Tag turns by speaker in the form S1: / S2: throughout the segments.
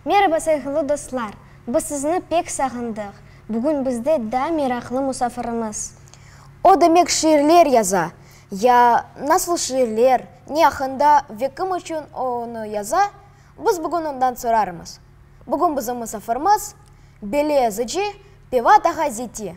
S1: Meraba sayğılı dostlar! Biz sizni pek sağındıq. Bugün bizde daa meraqlı musafirimiz. O demek şiirler yaza, ya nasıl şiirler, ne aqqında ve kim içün o onı yaza, biz bugün ondan sorarmız. Bugün bizim musafirimiz, beli yazıcı Pevat ağa Ziti.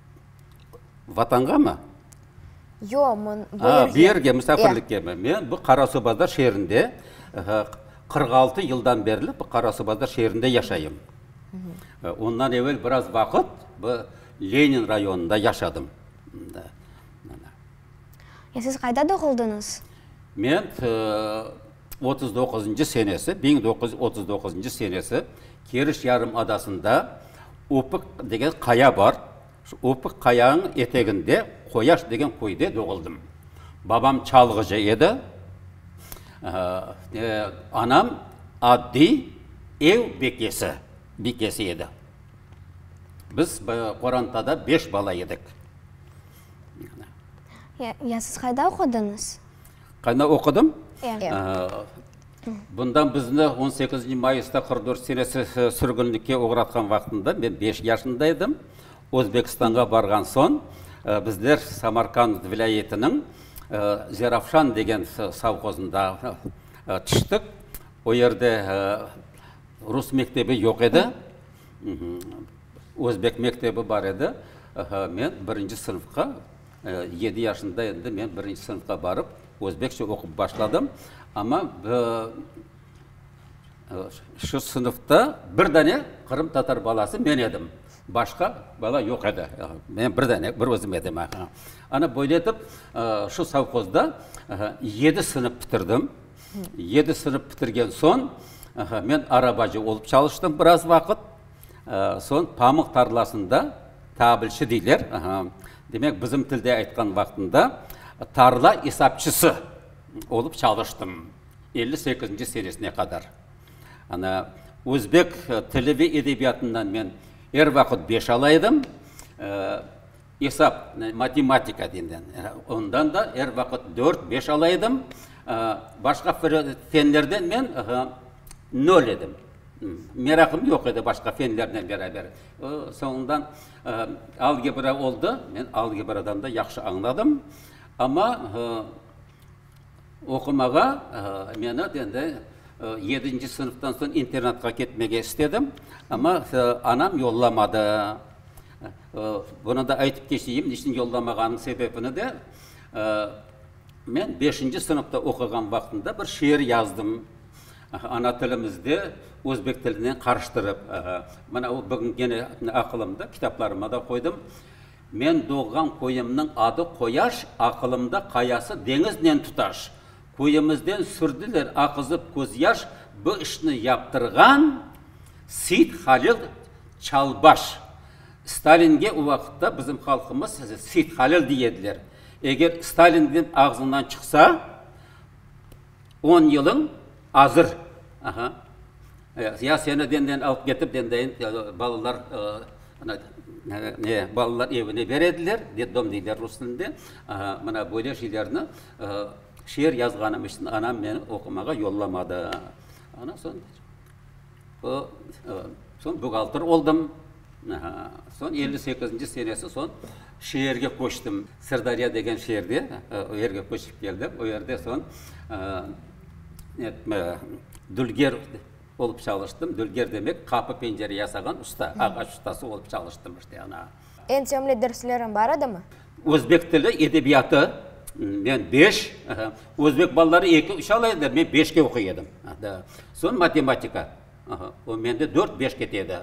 S2: Vatanğamı? Yo,
S1: men bu yerge. Aa, bu yerge,
S2: misafirlikkemi? Men bu Qarasuvbazar şeerinde, qırq altı yıldan berli bu Qarasuvbazar şeerinde yaşayım. Ondan evel biraz vaqıt bu Lenin rayonında yaşadım.
S1: Siz qayda doğuldıñız? Men
S2: otuz doquzıncı senesi, biñ doquz yüz otuz doquzıncı senesi Keriç yarımadasında Opıq degen qaya bar. Şu Opıq qayañıñ eteginde Qoyaş degen köyde doğuldım. Babam çalğıcı edi, anam addiy ev bekesi, bikesi edi. Biz qorantada beş bala edik.
S1: Ya, ya siz qayda oqudıñız? Qana
S2: oqudım. Bundan bizni on sekizinci mayısta qırq dört senesi sürgünlikke oğratqan vaqtında men beş yaşında edim. Özbekistanğa barğan soñ bizler Samarkand vilâyetiniñ Zerafşan degen sovhozında tüştik. O yerde rus mektebi yoq edi, özbek mektebi bar edi. Men birinci sınıfqa. Yedi yaşında endi men birinci sınıfqa barıp, özbekçe oqup başladım. Amma şu sınıfta bir dane qırımtatar balası men edim. Başqa bala yoq edi. Men bir dane, bir özüm edim. Ana böyle etip, şu sovhozda yedi sınıf bitirdim. Yedi sınıf bitirgen soñ, men arabacı olıp çalıştım biraz vaqıt. Soñ pamıq tarlasında, tabilçi deyler, Demek, bizim tilde aytqan vaqtında tarla esapçısı olıp çalıştım, elli sekizinci senesine qadar. Ana, özbek tili ve edebiyatından men er vaqıt beş ala edim, esap, matematika denilen, ondan da er vaqıt dört, beş ala edim. Başqa fenlerden men nol edim. Meraqım yoq edi başqa fenlernen beraber. Soñundan Algebra oldı, men algebradan da yahşı añladım, amma oqumağa meni endi yedinci sınıftan soñ internatqa ketmege istedim, amma anam yollamadı. Bunı da aytıp keçeyim, ne içün yollamağanıñ sebebini de. Men beşinci sınıfta oquğan vaqtımda bir şiir yazdım, ana tilimizde özbek tilinen qarıştırıp. Mına o bugün gene aqılımda, kitaplarıma da qoydım. Men doğğan köyümniñ adı Qoyaş, aqılımda qayası deñiznen tutaş. Köyümizden sürdiler aqızıp közyaş, bu işni yaptırğan, Seit Halil Çalbaş. Stalinge o vaqıtta bizim halqımız Seit Halil dey ediler. Eger Stalinniñ ağzından çıqsa, on yılıñ azır. Aha. Ya seni benden alıp ketip, bendeyin balalar, ne, balalar evine ber ediler, deddom deyler rus tilinde. Aha, mına böyle şeylerni şiir yazğanım içün anam meni oqumağa yollamadı. Ondan soñ. O, soñ buğaltır oldım. Soñ elli sekizinci senesi soñ şeerge köçtim. Sırdarya degen şeerde, o yerge köçip keldim. O yerde soñ dülger olıp çalıştım. Dülger demek, qapı, pencere yasağan usta, ağaç ustası olıp çalıştım işte ana. Eñ sevimli
S1: derslerin bar edimi? Özbek tili,
S2: edebiyatı, men beş, özbek balaları eki, üç ala edi, men beşke oquy edim. Soñ matematika, o mende dört, beş kete edi.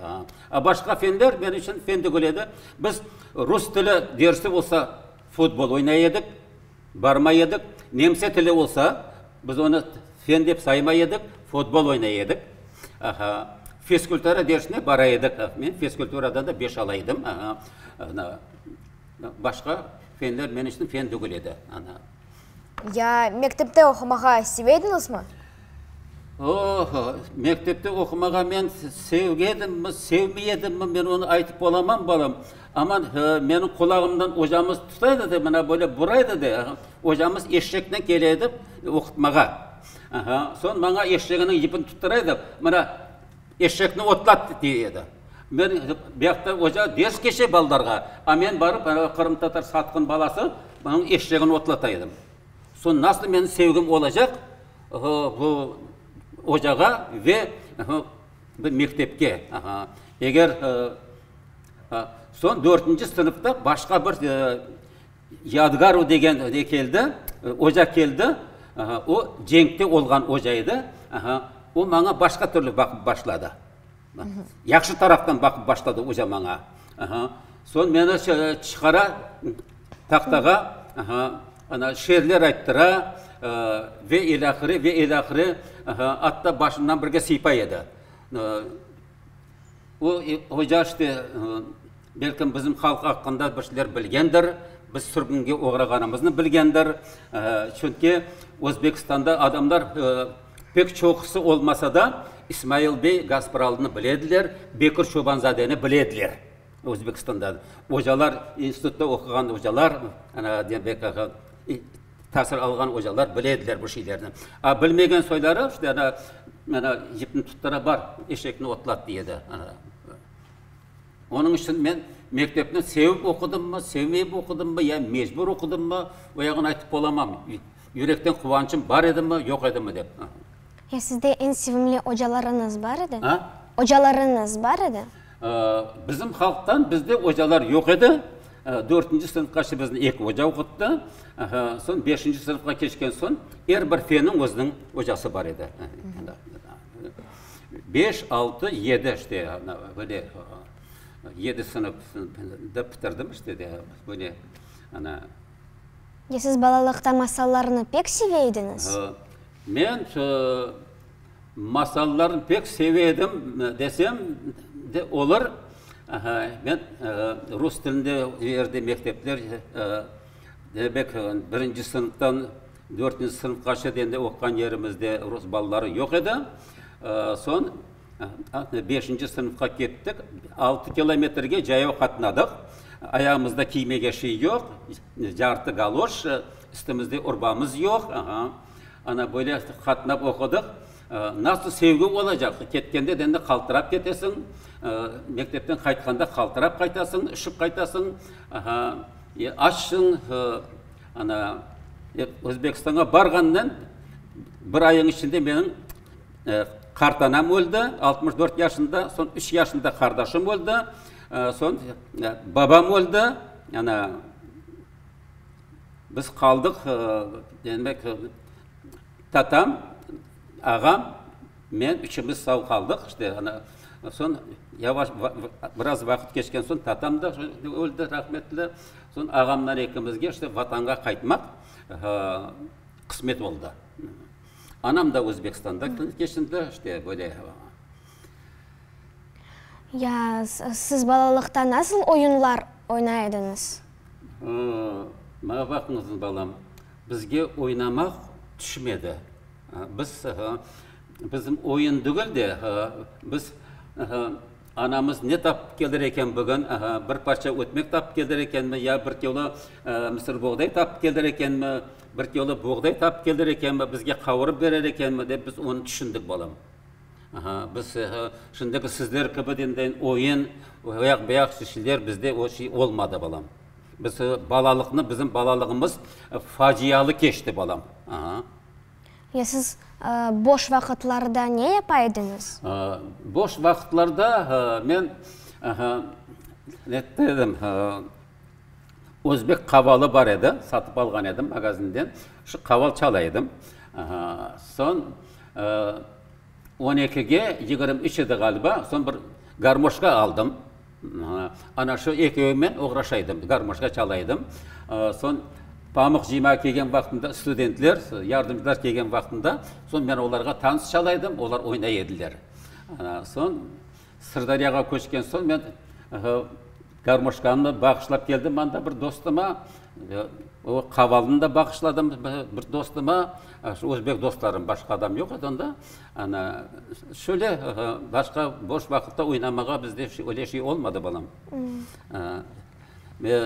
S2: A başqa fenler men içün fen degil edi. Biz rus tili dersi olsa, futbol oynay edik, barmay edik. Nemse tili olsa, biz onı fen dep saymay edik, futbol oynay edik. Aha. Fiskultura dersine bara edik. Men fiskulturadan da beş ala edim. Başqa fenler men içün fen degil edi, ana.
S1: Ya mektepte oqumağa sevediñizmi? Oh,
S2: mektepte oqumağa men sevgedimmi, sevmey edimmi, men onı aytıp olamam, balam. Amma meniñ qulağımdan ocamız tuta edi de, mına böyle bura edi de, ocamız eşşeknen kele edi oqutmağa. Aha, soñ maña eşşeginiñ yipini tuttura edi, mına. Eşşekni otlat, dey edi. Men Behter oca ders keçe balalarğa, a men barıp, anavi qırımtatar satqın balası, onıñ eşşegini otlata edim. Soñ nasıl meniñ sevgim olacaq bu ocağa ve bu mektepke? Eger, soñ dörtünci sınıfta başqa bir Yadgaru degen ne keldi, oca keldi. O, cenkte olğan oca edi. O maña başqa türlü baqıp başladı. Yahşı taraftan baqıp başladı oca maña. Soñ meni çıqara tahtağa, ana, şeerler ayttıra ve ilâhre, ve ilâhre. Atta başımdan birge sıypay edi. O, Oca işte, belkim bizim halq aqqında bir şeyler bilgendir, biz sürgünge oğrağanımıznı bilgendir, çünki Özbekistanda adamlar pek çoqusı olmasa da, İsmail bey Gaspıralı'nı bilediler, Bekir Çoban-zadeni bilediler. Özbekistanda ocalar, institutta oquğan ocalar, ana, demek, tasil alğan ocalar bilediler bu şeylerni. A bilmegen soyları, işte, ana, ana, yipni tuttura, bar, eşekni otlat, deyedi. Onıñ içün men mektepni sevip oqudımmı, sevmeyip oqudımmı, ya mecbur oqudımmı, o yağını aytıp olamam. Yürekten quvançım bar edimi, yoq edimi, dep. Ya sizde
S1: eñ sevimli ocalarıñız bar edi? A? Ocalarıñız bar edi? Bizim
S2: halqtan bizde ocalar yoq edi. Dörtünci sınıfqaçe bizni eki oca oquttı. Soñ beşinci sınıfqa keçken soñ er bir fenniñ özüniñ ocası bar edi. Beş, altı, yedi işte böyle yedi sınıf dep bitirdim işte de böyle ana. Ya
S1: siz balalıqta masallarnı pek seve ediñiz? Men
S2: Masallarnı pek seve edim desem de olur. Men rus tilinde o yerde mektepler, demek, birinci sınıftan dörtünci sınıfqaşa degende oquğan yerimizde rus balaları yoq edi. Soñ beşinci sınıfqa kettik. Altı kilometrge cayav qatnadıq. Ayağımızda kiymege şey yoq, cartı galoş, üstümizde urbamız yoq. Ana, böyle qatnap oqudıq. Nasıl sevgi olacaq? Ketkende de endi qaltırap ketesiñ, mektepten qaytqanda qaltırap qaytasıñ, üşip qaytasıñ. Aha, e, açsıñ. Ana, e, Özbekistanğa barğandan bir ayıñ içinde meniñ qartanam öldi, altmış dört yaşında, soñ üç yaşında qardaşım öldi, soñ babam öldi. Ana. Biz qaldıq, demek, tatam, ağam, men, üçümiz sağ qaldıq. İşte, ana, soñ yavaş, biraz vaqıt keçken soñ tatam da öldi, rahmetli. Soñ ağamlar ekimizge işte Vatanğa qaytmaq qısmet oldı. Anam da Özbekistanda keçindi, işte, böyle. Ya,
S1: siz balalıqta nasıl oyunlar oynay ediñiz?
S2: Maña baqıñız, balam, bizge oynamaq tüşmedi. Biz, bizim oyun degil de, biz, anamız ne tapıp keldir eken bugün, bir parça ötmek tapıp keldir ekenmi ya bir kilo mısır boğday tapıp keldir ekenmi, bir kilo boğday tapıp keldir ekenmi, bizge qavurıp berer ekenmi dep biz onı tüşündik, balam. Aha, biz şimdiki sizler kibi deyin, oyun, oyaq, buyaq işler bizde o şey olmadı, balam. Biz balalıqnı, bizim balalığımız facialı keçti, balam. Aha.
S1: Ya siz boş vaqıtlarda ne yapa ediñiz? Boş
S2: vaqıtlarda men, aha, ne dedim, Özbek qavalı bar edi, satıp alğan edim magazinden. Şu qaval çala edim. Soñ on ekige yigirmi üç edi ğaliba, soñ bir garmoşka aldım. Ana şu ekevmen oğraşa edim, garmoşka çala edim. Soñ Pamıq Cima kelgen vaqtında, studentler, yardımcılar kelgen vaqtında, soñ men olarğa tans çala edim, olar oynay ediler. Soñ Sırdaryağa köçken soñ men garmoşkanımnı bağışlap keldim manda bir dostuma. O qavalnı da bağışladım bir dostuma. Özbek dostlarım, başqa adam yoq edi onda. Ana, şöyle başqa boş vaqıtta oynamağa bizde öyle şey olmadı, balam.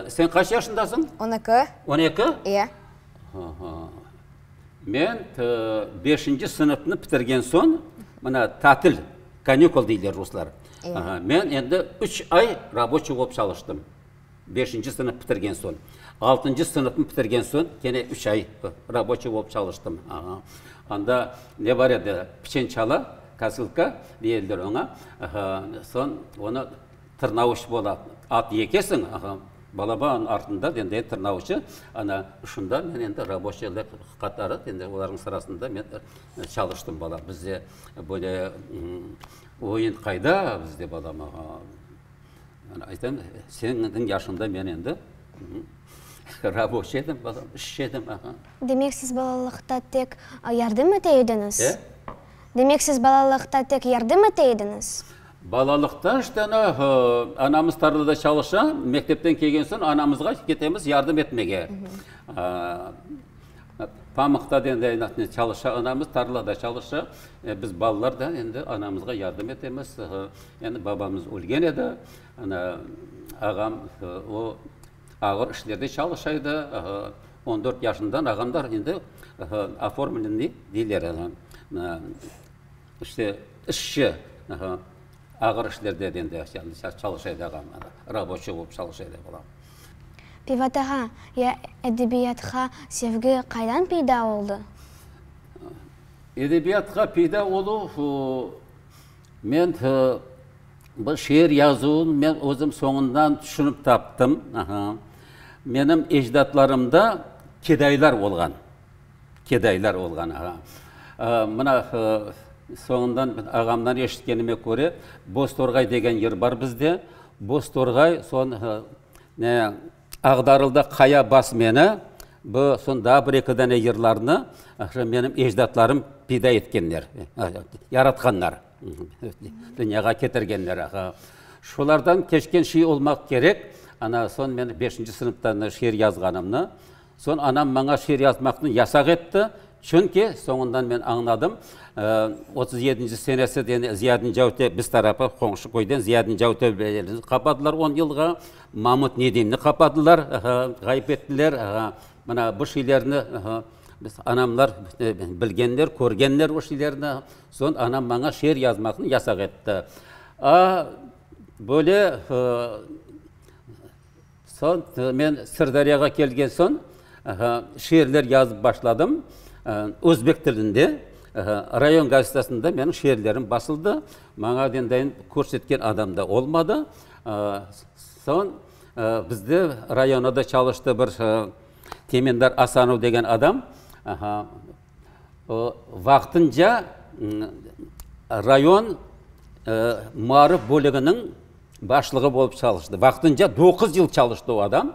S2: Sen qaç yaşındasıñ? On eki. On eki?
S1: İye.
S2: Aha. Men beşinci sınıfnı bitirgen soñ, mına, tatil. Kanükul deyler ruslar. Men endi üç ay raboçiy olıp çalıştım. Beşinci sınıf bitirgen soñ. Altıncı sınıfnı bitirgen soñ kene üç ay raboçiy olıp çalıştım. Anda ne bar edi, piçen çala, kosılka deyildir oña. Soñ onı tırnauç bola, at yekesiñ, balabanıñ artında endi tırnauçı, ana şunda men endi raboçiyler qatarı, endi olarnıñ sırasında men. Çalıştım, balam. Bizde böyle oyun qayda bizde, balam? Men aytam, señniñ yaşında men endi raboşiy edim, balam, işçi edim, aha. Demek, siz
S1: balalıqta tek yardım ete ediñiz? E? Demek, siz balalıqta tek yardım ete ediñiz? Balalıqta,
S2: işte, ana, anamız tarlada çalışa, mektepten kelgen soñ anamızğa ketemiz yardım etmege. Pamıqta da endi aynı çalışa anamız, tarlada çalışa. Biz balalar da endi anamızğa yardım etemiz. Endi babamız ölgen edi, ana, ağam, o, ağır işlerde çalışa edi. On dört yaşından ağam da endi oformlenniy deyler, ana, işte, işçi. Ağır işlerde ben de çalış edegam, raboçi olıp çalış ede olam. Pivotağa
S1: ya edebiyatqa sevgi qaydan peyda oldı?
S2: Edebiyatqa peyda oluv, men bu şiir yazuvın men özüm soñundan tüşünip taptım. Menim ecdatlarımda kedaylar olğan. kedaylar olğan. Mına, soñundan ağamdan eşitkenime köre, Boztorğay degen yer bar bizde. Boztorğay, soñ Ağdarılda Qaya Basmeni, bu soñ daa bir eki dane yerlerni menim ecdatlarım peyda etkenler, yaratqanlar, dünyağa ketirgenler. Şolardan keçken şey olmaq kerek. Ana, soñ men beşinci sınıfta şiir yazğanımnı, Soñ anam maña şiir yazmaqnı yasaq etti, çünki, soñundan men añladım, otuz yedinci senesi deni Ziyadin Cavte biz tarafı, qoñşu köyden Ziyadin Cavte belediyesin qapadılar on yılğa, Mamut Nedimni qapadılar, ğayıp ettiler. Mına bu şiirlerni biz anamlar bilgenler, körgenler o şiirlerni. Soñ anam maña şiir yazmaqnı yasaq etti. Böyle Soñ men Sırdariyağa kelgen soñ, şiirler yazıp başladım. Özbek tilinde rayon gazetasında menim şiirlerim basıldı. Maña dendayın körsetken adam da olmadı. Soñ bizde rayonada çalıştı bir Temendar Asanov degen adam. Vaqtınca rayon maarif bölüginiñ başlığı bolıp çalıştı. Vaqtınca doquz yıl çalıştı o adam.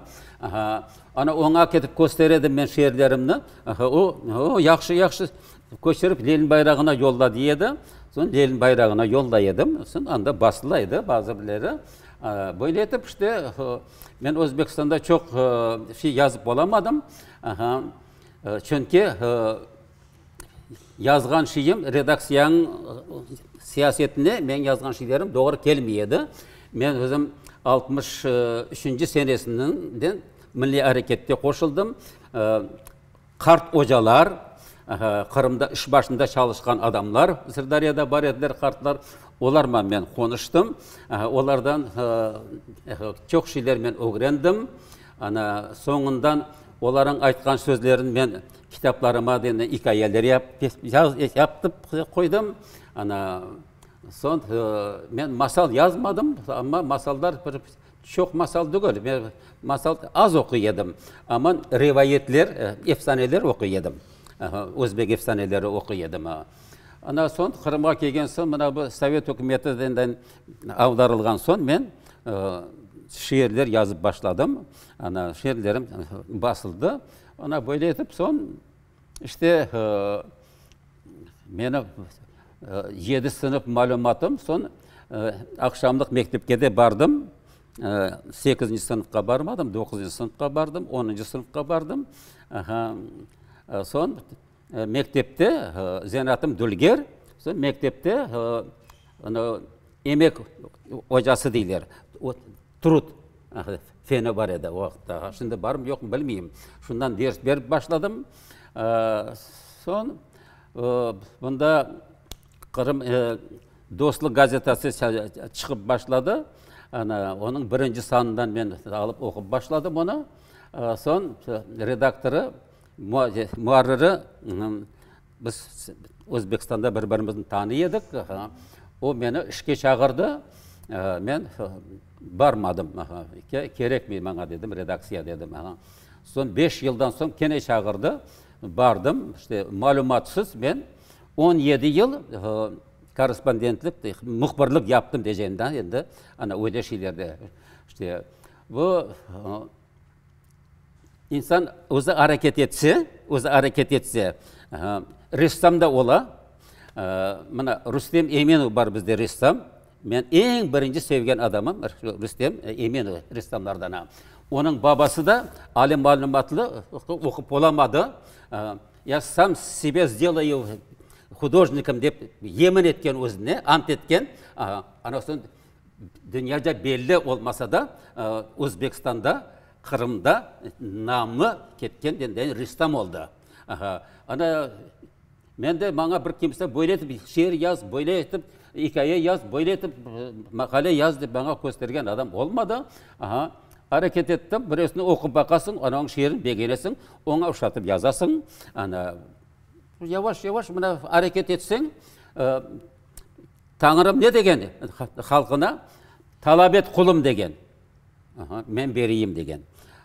S2: Ana, oña ketip köster edim men şiirlerimni. O, yahşı, yahşı, köçürip Lenin bayrağına yolla, dey edi. Soñ Lenin bayrağına yollay edim. Soñ anda basıla edi bazı birleri. Böyle etip işte men Özbekistanda çoq şey yazıp olamadım. Çünki yazğan şeyim redaksiyanıñ siyasetine menim yazğan şeylerim doğru kelmey edi. Men özüm altmış üçünci senesinden milliy arekette qoşuldım. Qart ocalar, Qırımda iş başında çalışqan adamlar Sırdariyada bar ediler, qartlar. Olarla men qonuştım. Olardan çoq şeyler men ögrendim. Ana, soñundan olarnıñ aytqan sözlerini men kitaplarıma ikâyeler yaptım, qoydım. Ana, soñ men masal yazmadım, amma masallar, bir çoq masal tügel, men masal az oquy edim. Amma rivayetler, efsaneler oquy edim. Aha, özbek efsaneleri oquy edim. Ana, soñ Qırımğa kelgen soñ, mına bu sovet ükümeti Avdarılğan soñ men şiirler yazıp başladım. Ana, şiirlerim basıldı. Ana, böyle etip soñ, işte, meni yedi sınıf malümatım, soñ aqşamlıq mektepke de bardım. Sekizinci sınıfqa barmadım, doquzıncı sınıfqa bardım, onuncu sınıfqa bardım. Aha, soñ. Mektepte zenaatım dülger, mektepte emek ocası deyler, trud feni bar edi o vaqıtta. Şimdi barmı, yoqmı bilmeyim. Şundan ders berip başladım. Soñ mında Qırım dostluq gazetası çıqıp başladı. Ana, onıñ birinci sanından men alıp oqup başladım onı. Soñ redaktorı Muarriri, biz Özbekistanda bir birimizni tanıy edik, o meni işke çağırdı, men barmadım, kerekmey maña dedim, redaksiya dedim. Soñ beş yıldan soñ kene çağırdı, bardım, işte malümatsız men on yedi yıl korrespondentlik, mühbirlik yaptım diyeceğim, endi, ana öyle şeylerde, işte. Bu. İnsan özü areket etse, özü areket etse, ressam da ola. Mına Rustem Eminov bar bizde ressam. Men eñ birinci sevgen adamım Rustem Eminov ressamlardan. Onıñ babası da ali malümatlı, oqup olamadı. Ya sam sebe zdelâyu hudojnikim dep yemin etken özüne, ant etken. Dünyada belli olmasa da, Özbekistanda, Qırımda namı ketken ressam oldı. Ana, men de, maña bir kimse böyle etip şiir yaz, böyle etip ikâye yaz, böyle etip maqale yaz dep maña köstergen adam olmadı. Areket ettim, bireusini oqup baqasıñ, ana onıñ şiirini begenesiñ, oña oşatıp yazasıñ. Ana, yavaş-yavaş mına areket etseñ, Tañrım ne degen halqına? Talap et, qulum, degen. Aha, men bereyim, degen.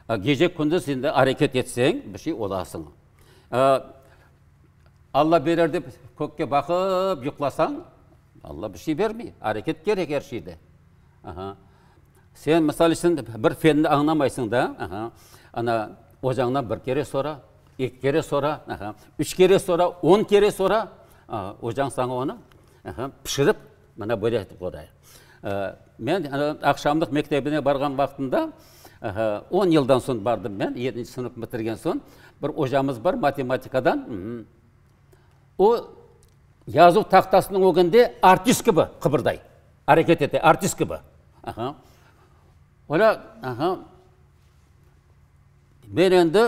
S2: Gece-kündiz şimdi areket etseñ, bir şey olasıñ. Alla berer dep kökke baqıp yuqlasañ, Alla bir şey bermey. Areket kerek er şeyde. Aha. Sen, misal içün, bir fenni añlamaysıñ da, aha, ana, ocañdan bir kere sora, Eki kere so'ra, aha, üç kere so'ra, on kere so'ra, aha, ocañ saña onı, aha, pişirip, mana böyle etip qoday. Men aqşamlıq mektebine barğan vaqtımda, aha, on yıldan soñ bardım men, yedinci sınıf bitirgen soñ, bir ocamız bar matematikadan, o, yazuv tahtasınıñ ögünde artist kibi qıbırday, areket ete, artist kibi. Aha. Ola, aha. Men endi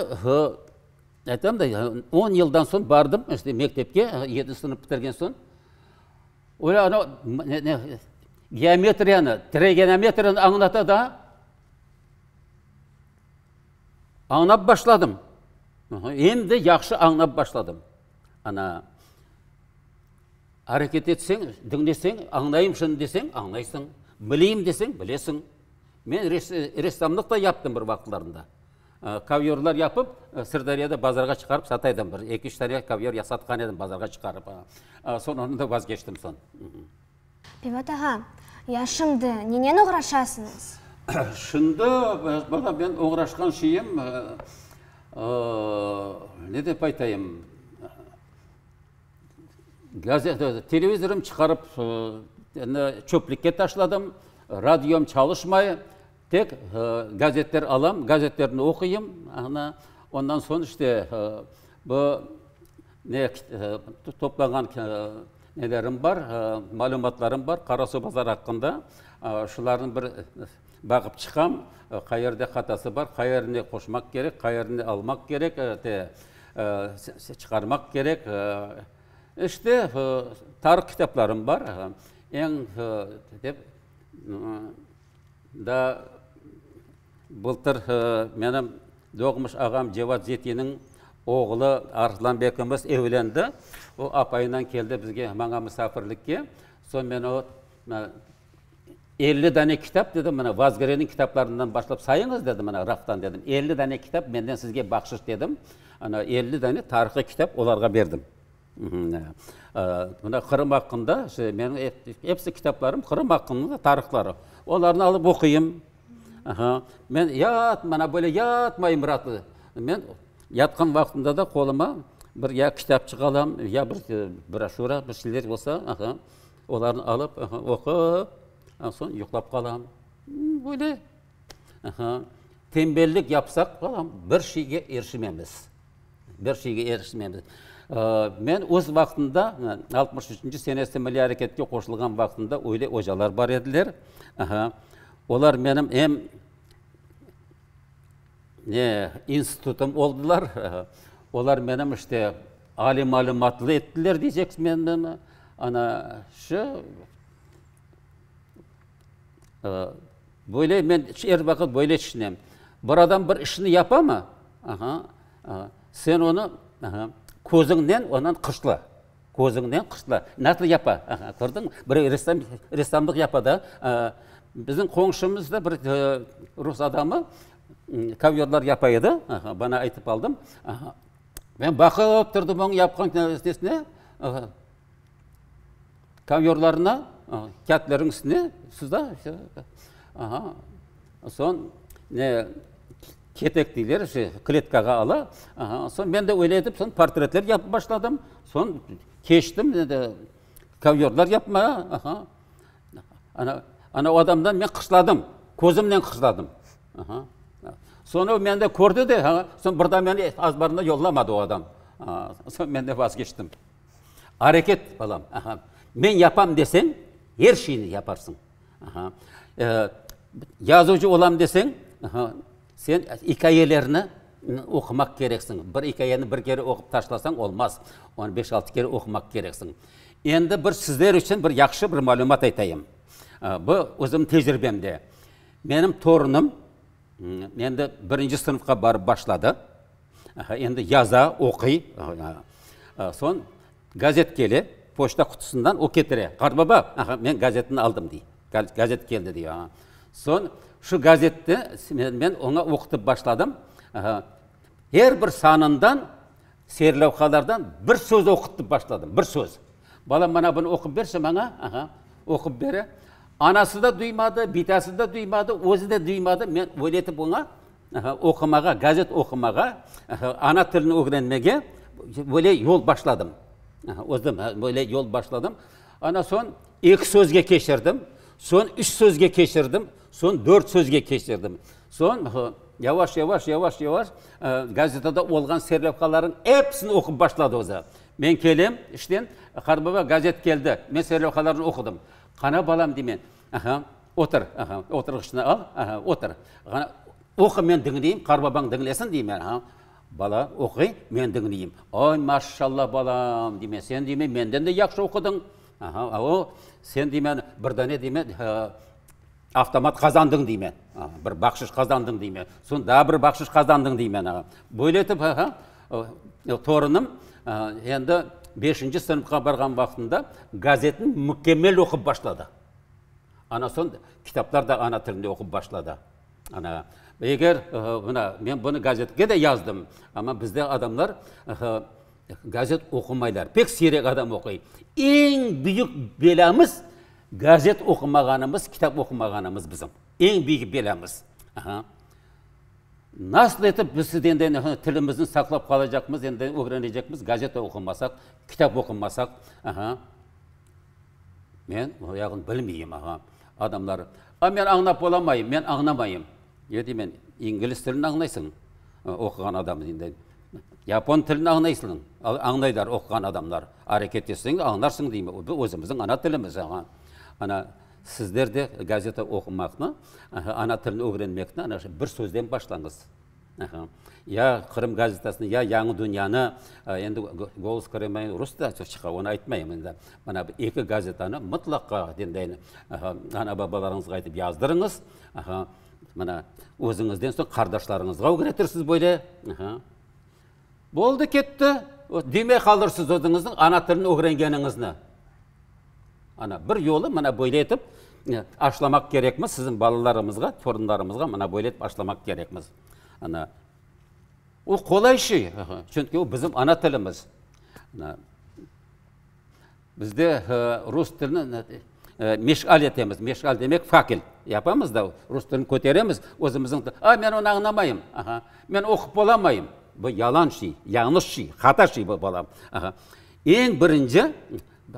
S2: aytam da, on yıldan soñ bardım işte mektepke, yedinci sınıf bitirgen soñ. Öyle ana geometriyanı, trigonometriyanı añlata da, añlap başladım. Endi yahşı añlap başladım. Ana areket etseñ, diñleseñ, añlayım şimdi deseñ, añlaysañ, bileyim deseñ, bilesiñ. Men ressamlıq da yaptım bir vaqıtlarında. Kovyorlar yapıp, Sırdaryada bazarğa çıqarıp sata edim. Bir eki-üç tane kovyor yasatqan edim bazarğa çıqarıp. Soñ ondan da vazgeçtim soñ. Piyvat
S1: ağa, ya şimdi nenen oğraşasıñız? Şimdi,
S2: bala, men oğraşqan şeyim, ne dep aytayım, Televizorım çıqarıp, çöplükke taşladım. Radiom çalışmay. Tek gazetler alam, gazetlerni oquyım. Ondan soñ işte bu toplanğan malümatlarım bar Qarasuvbazar aqqında. Şularnıñ bir Baqıp çıqam, qayerde hatası bar, qayerini qoşmaq kerek, qayerini almaq kerek, te, çıqarmaq kerek. İşte, tarih kitaplarım bar. Eñ, dep, daa bıltır menim doğmuş ağam Cevat Zetiniñ oğlu Arslan bekimiz evlendi. O apayınan keldi bizge, maña musafirlikke. Soñ men o, Elli dane kitap, dedim, mına, Vazgereniñ kitaplarından başlap sayıñız, dedim, mına, raftan, dedim. Elli dane kitap menden sizge bahşış, dedim. Ana, elli dane tarihıy kitap olarğa berdim. Mına, Qırım aqqında, meniñ episi kitaplarım Qırım aqqında tarihları. Olarnı alıp oquyım. Men mana böyle yatmayım ratlı. Men yatqan vaqtımda da qoluma bir ya kitapçıq alam, ya bir broşura, bir şeyler olsa. Olarnı alıp, oqup, soñ yuqlap qalam. Böyle tembellik yapsaq, balam, bir şeyge erişememiz, bir şeyge erişememiz. Men öz vaqtımda, altmış üçünci senesinde milliy areketke qoşulğan vaqtımda öyle ocalar bar ediler. Olar menim em Ne institutım oldılar, olar menim işte aliy malümatlı ettiler diyceksiz meni. Ana şu, böyle men er vaqıt böyle tüşünem. Bir adam bir işni yapamı, sen onı közüñnen ondan qıçla. Közüñden qırtla, nasıl yapa, aha, kördiñmi? Bir ressam, ressamlıq yapa da, bizim qoñşumız da bir rus adamı kovyorlar yapa edi, aha, bana aytıp aldım, aha. Men baqıp turdım oñ yapqan nesine, aha, kovyorlarına, kâğıtlarnıñ üstüne, suzda, aha. Soñ ne ketek deyler, şey, kletkağa ala. Aha, soñ men de öyle etip, soñ portretler yapıp başladım. Soñ keçtim kovyorlar yapmağa. Aha. Ana, ana o adamdan men qısladım, közümnen qısladım. Aha. Soñra o meni de kördi de, ha, soñ bir daa meni azbarına yollamadı o adam. Aha, soñ men de vazgeçtim. Areket, balam, aha, men yapam deseñ, er şeyni yaparsıñ. Yazuvcı olam deseñ, sen ikâyelerni oqumaq kereksiñ. Bir ikâyeni bir kere oqup taşlasañ olmaz. Onı beş-altı kere oqumaq kereksiñ. Endi bir sizler içün bir yahşı bir malümat aytayım. Bu, özümniñ tecribemde. Menim torunım endi birinci sınıfqa barıp başladı. Aha, endi yaza, oquy. Soñ gazet kele, poçta qutusından o ketire. Qartbaba, aha, men gazetni aldım, dey. Gazet keldi, dey. Soñ şu gazetni men oña oqutıp başladım. Aha, er bir sanından, serlavhalardan bir söz oqutıp başladım, bir söz. Balam, mana bunı oqup berşi maña. Aha, oqup bere. Anası da duymadı, bitası da duymadı, özü de duymadı. Men öyle etip oña Oqumağa, gazet oqumağa, ana tilini ögrenmege böyle yol başladım. Özüm böyle yol başladım. Ondan soñ eki sözge keçirdim, soñ üç sözge keçirdim, soñ dört sözge keçirdim. Soñ yavaş, yavaş, yavaş, yavaş gazetada olğan serlevhalarnıñ episini oqup başladı özü. Men kelem işten, qarı baba, gazet keldi. Men serlevhalarnı oqudım. Qara balam, deymen, Otur, aha, oturğıçnı al, aha, otur. Ğana oqu, men diñleyim, qarbabañ diñlesin, deymen, aha. Bala oquy, men diñleyim. Oy, maşşalla, balam, deymen, sen, deymen, menden de yahşı oqudıñ. Aha, ao, sen, deymen, bir dane, deymen, avtomat qazandıñ, deymen, aha, bir bahşış qazandıñ, deymen, soñ daa bir bahşış qazandıñ, deymen, aha. Böyle etip, aha, torunım, aha, endi beşinci sınıfqa barğan vaqtında gazetni mükemmel oqup başladı. Ana soñ kitaplar da ana tilinde oqup başladı. Ana, eger, mına, men bunı gazetke de yazdım, amma bizde adamlar gazet oqumaylar, pek siyrek adam oquy. Eñ büyük belâmiz, gazet oqumağanımız, kitap oqumağanımız bizim. Eñ büyük belâmiz. Aha. Nasıl etip biz endi tilimizni saqlap qalacaqmız, endi ögrenecekmiz, gazet oqumasaq, kitap oqumasaq? Aha. Men o yağını bilmeyim, ağa. Adamlar, A, men añlap olamayım, men añlamayım. Ne deymen, İngilis tilini añlaysıñ, oquğan adam deydi. Yapon tilini añlaysıñ, añlaylar oquğan adamlar. Areket etseñ, añlarsıñ deyim. Bu özümizniñ ana tilimiz, ağa. Ana, sizler de gazeta oqumaqnı, ana tilini ögrenmekni ana şu bir sözden başlañız. Ya Qırım gazetasını, ya Yañı dünyanı, endi Golos Krıma endi rus da çıqa, onı aytmayım endi. Mana bu eki gazetanı mıtlaqa dinleyin. Ana-babalarıñızğa aytıp yazdırıñız. Mana, özüñizden soñ qardaşlarıñızğa ögretirsiz böyle. Boldı ketti, demey qaldır siz özüñizniñ ana tilini ögrengeninizni. Ana, bir yolu mına böyle etip aşlamaq kerekmiz siziñ balalarıñızğa, torunlarıñızğa mına böyle etip aşlamaq kerekmiz. Ana, o qolay şey, çünki o bizim ana tilimiz. Bizde rus tilini meşğal etemiz, meşğal demek fakel yapamız da, rus tilini köteremiz, özümizniñ tilimiz, a, men onı añlamayım, aha, men oqup bolamayım, bu yalan şey, yañlış şey, hata şey bu, balam, aha. Eñ birinci,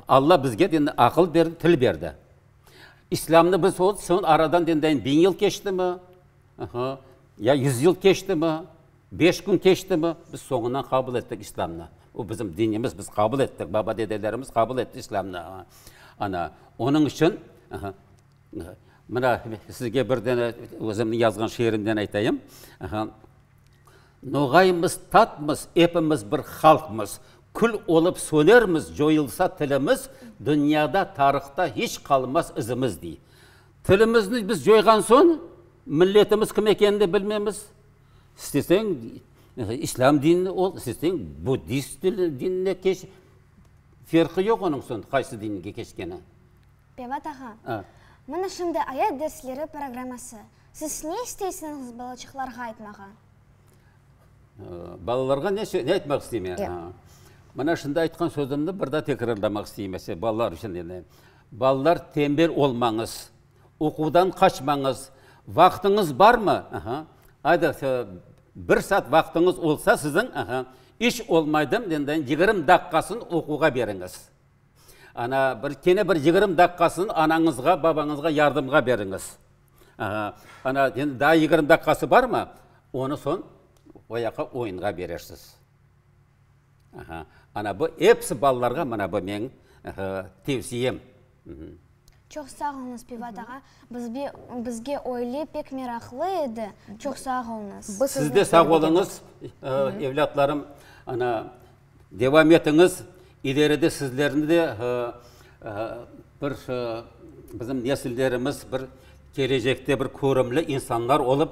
S2: Alla bizge aqıl berdi, til berdi. İslâmnı biz aradan biñ yıl keçtimi? Aha, ya yüz yıl keçtimi, beş kün keçtimi, biz soñuna qabul ettik İslâmnı. O bizim dinimiz, biz qabul ettik, baba-dedelerimiz qabul etti İslâmnı. Ana, onıñ içün, aha, mına, sizge bir dene özümniñ yazğan şiirimden aytayım. Aha, Noğaymız, tatmız, epimiz bir halqmız, kül olıp sönermiz, coyulsa tilimiz, dünyada, tarihta hiç qalmaz izimiz, dey. Tilimizni biz coyğan soñ, milletimiz kim ekenini bilmemiz. İsteseñ islâm dinini ol, isteseñ buddist dinine keç, ferqi yoq onıñ soñ qaysı dinge keçkeni. Pevat
S1: ağa, mına şimdi ayat dersleri programması. Siz ne isteysiniñiz balaçıqlarğa aytmağa?
S2: Balalarğa ne aytmaq isteyim? Mına şimdi aytqan sözümni bir daa tekrarlamaq isteyim, ese balalar içün. Balalar, tembel olmañız, oquvdan qaçmañız. Vaqtıñız barmı? Aha. Ayda, so, bir saat vaqtıñız olsa siziñ, aha, iş olmaydı, endi yigirmi daqqasın oquvğa beriñiz. Ana, bir, kene bir yigirmi daqqasın anañızğa, babañızğa yardımğa beriñiz. Aha. Ana, endi daa yigirmi daqqası barmı? Onı soñ oyaqqa, oyunğa berersiz. Ana bu episi balalarğa mana bu meñ tevsiyem.
S1: Çoq sağ olunız, Pivat ağa. Bizge öyle pek meraqlı edi. Çoq sağ olunız. Siz de sağ
S2: olunız, evlâtlarım. Ana, devam etiñiz. İleride sizlerni de bir bizim nesillerimiz bir kelecekte bir körümli insanlar olıp